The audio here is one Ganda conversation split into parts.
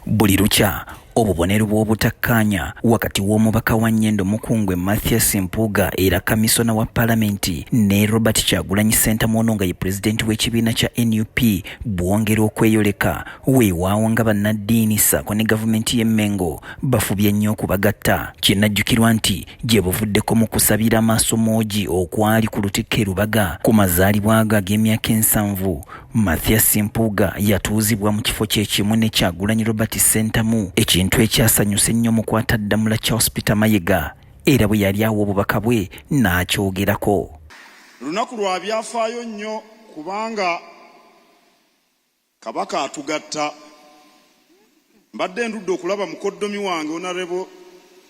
Buli lukya obubonero bw'obutakkaanya wakati w'omubaka wa Nyendo Mukungwe Mathias Mpuuga era kamisona wa palamenti ne Robert Kyagulanyi Ssentamu ono nga ye pulezidenti w'ekibiina kya nup bwongera okweyoleka weewaawo nga bannaddiini ssaako ne gavumenti y'e Mmengo bafubye nnyo okubagatta. Kinajjukirwa nti gye buvuddeko mu kusabira amaaso moogi okwali ku lutikko e Lubaga ku mazaalibwa ge ag'emyaka ensanvu, Mathias Mpuuga yatuuzibwa mu kifo kye kimu ne Kyagulanyi Robert Ssentamu ekintu ekyasanyusa ennyo mu kwataddamula Charles Peter Mayega era bwe yali awa obubaka bwe n'akyogerako. Lunaku lwa byafaayo nnyo kubanga Kabaka atugatta. Mbadde ndudde okulaba mukoddomi wange onarebo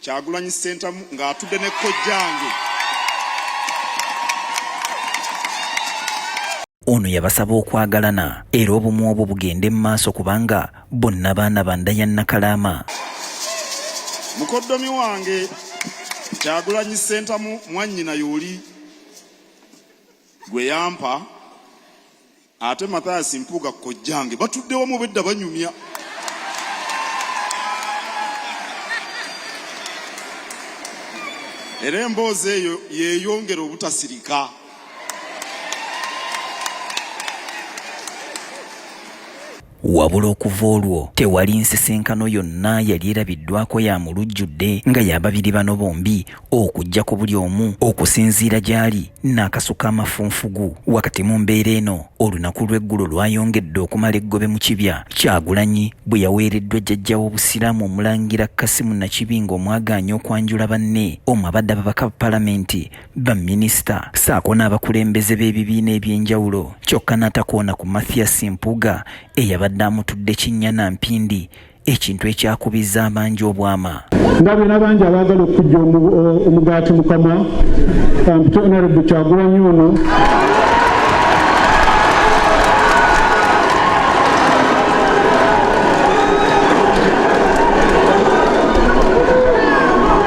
Kyagulanyi Ssentamu ng'atudde ne kojjange. Ono yabasaba okwagalana era obumu obwo bugende mu maaso kubanga bonna baana ba nda ya Nakalaama. Mukoddomi wange Kyagulanyi Ssentamu mwannyina y'oli gwe yampa Ate Mathias Mpuuga kojjange batudde wamu bedda banyumya. Era emboozi eyo yeeyongera obutasirika. Wabula okuva olwo tewali nsisinkano yonna yali erabiddwako ya mu lujjudde nga ya babiri bano bombi okuggyako buli omu okusinziira gy'ali n'akasuka amafunfugu. Wakati mu mbeera eno olunaku lw'eggulo lwayongedde okumala eggobe mu kibya, Kyagulanyi bwe yaweereddwa jjajja w'Obusiraamu Omulangira Kasimu Nakibinge omwagaanya okwanjula banne omu abadde ababaka ba Palamenti baminisita saako n'abakulembeze b'ebibiina ebyenjawulo kyokka n'atakoona ku Mathias Mpuuga eyabadde amutudde kinnya na mpindi ekintu ekyakubizza abangi obwama ndabye n'abangi abaagala okujja omugaati mukama ampite onorebu kyagulanyi ono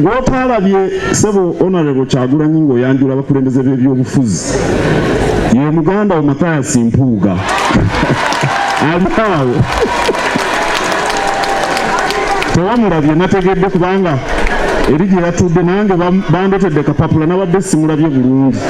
gwotaalabye sebo honorable kyagulanyi ng'oyanjula abakulembeze b'ebyobufuzi ye muganda wo matayasi mpuuga alikaawo tewamulabye nategedde kubanga eri gye yatudde nange bandetedde kapapula nabadde simulabye bulungi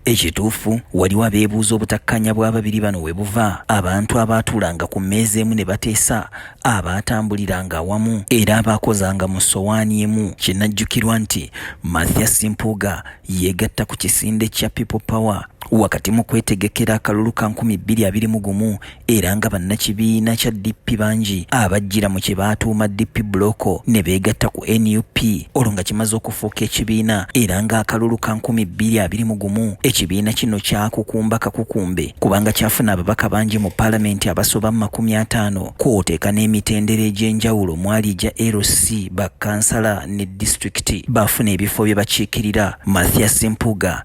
Ekituufu waliwo abeebuuza obutakkanya bw'ababiri bano we buva abantu abaatuulanga ku mmeeza emu ne bateesa abaatambuliranga awamu era abaakozanga mu ssowaani emu kinajjukirwa nti Mathias Mpuuga yeegatta ku kisinde kya People Power wakati mu kwetegekera akalulu ka nkumi bbiri abiri mu gumu era nga bannakibiina kya DP bangi abajjira mu kye baatuuma DP buloko ne beegatta ku nup olwo nga kimaze okufuuka ekibiina era ng'akalulu ka nkumi bbiri abiri mu gumu ekibiina kino kyakukumba kakukumbe kubanga kyafuna ababaka bangi mu paalamenti abasoba mu makumi ataano kwoteeka n'emitendera egy'enjawulo mwali egya LC bakansala ne disitulikiti baafuna ebifo bye bakiikirira Mathias Mpuuga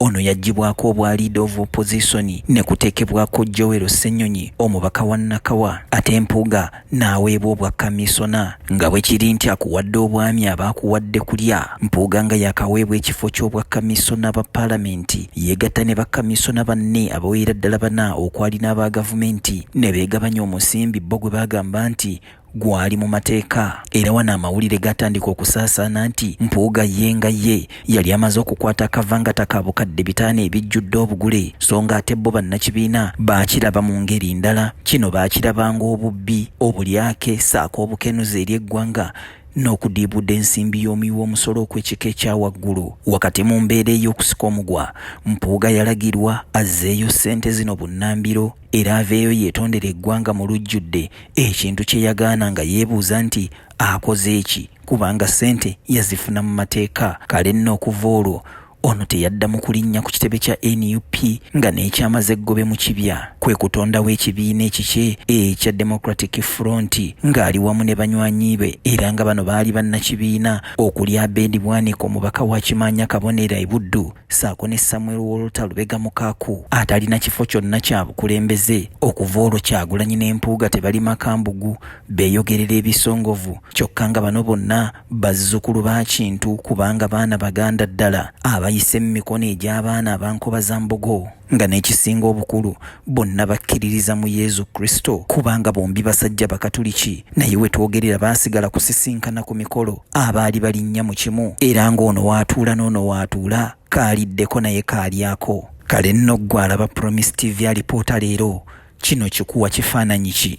Ono yaggyibwako obwa leader of opposition ne kuteekebwako Joel Ssenyonyi omubaka wa Nakawa ate Mpuuga n'aweebwa obwa kamiisona nga bwe kiri nti akuwadde obwami aba akuwadde kulya. Mpuuga nga yaakaweebwa ekifo ky'obwa kamiisona ba Palamenti yeegatta ne bakamiisona banne abawerera ddala bana okwali n'aba Gavumenti ne beegabanya omusimbi bbo gwe baagamba nti gwali mu mateeka era wano amawulire gatandika okusaasaana nti mpuuga ye nga ye yali amaze okukwata akavangata ka bukadde bitaano ebijjudde obugule so nga ate bo bannakibiina baakiraba mu ngeri ndala kino baakiraba ng'obubbi obulyake saako obukenuzi eri eggwanga n'okudiibuda ensimbi y'omuwi w'omusolo okw'ekika ekya waggulu wakati mu mbeera ey'okusika omugwa mpuuga yalagirwa azzeeyo ssente zino bunnambiro era aveeyo yeetondera eggwanga mu lujjudde ekintu kye yagaana nga yeebuuza nti akoze eki kubanga ssente yazifuna mu mateeka kale nno okuva olwo ono teyaddamu kulinnya ku kitebe kya nup nga n'ekyamaze eggobe mu kibya kwe kutondawo ekibiina ekikye ekya democratic front ng'ali wamu ne banywanyi be era nga bano baali bannakibiina okuli abedi bwaniko omubaka wa kimaanya kabonera ebuddu saako ne Samuel Wolta Lubega Mukaaku atalina kifo kyonna kya bukulembeze okuva olwo Kyagulanyi ne Mpuuga tebali makambugu beeyogerera ebisongovu kyokka nga bano bonna bazzukulu ba Kintu kubanga baana baganda ddala abayise mu mikono egy'abaana abankoba za mbogo. nga n'ekisinga obukulu bonna bakkiririza mu Yezu Kristo kubanga bombi basajja Bakatuliki naye we twogerera baasigala kusisinkana ku mikolo abaali balinnya mu kimu era ng'ono waatuula n'ono waatuula kaaliddeko naye kaalyako kale nno ggwe alaba Promise TV alipoota leero kino kikuwa kifaananyi ki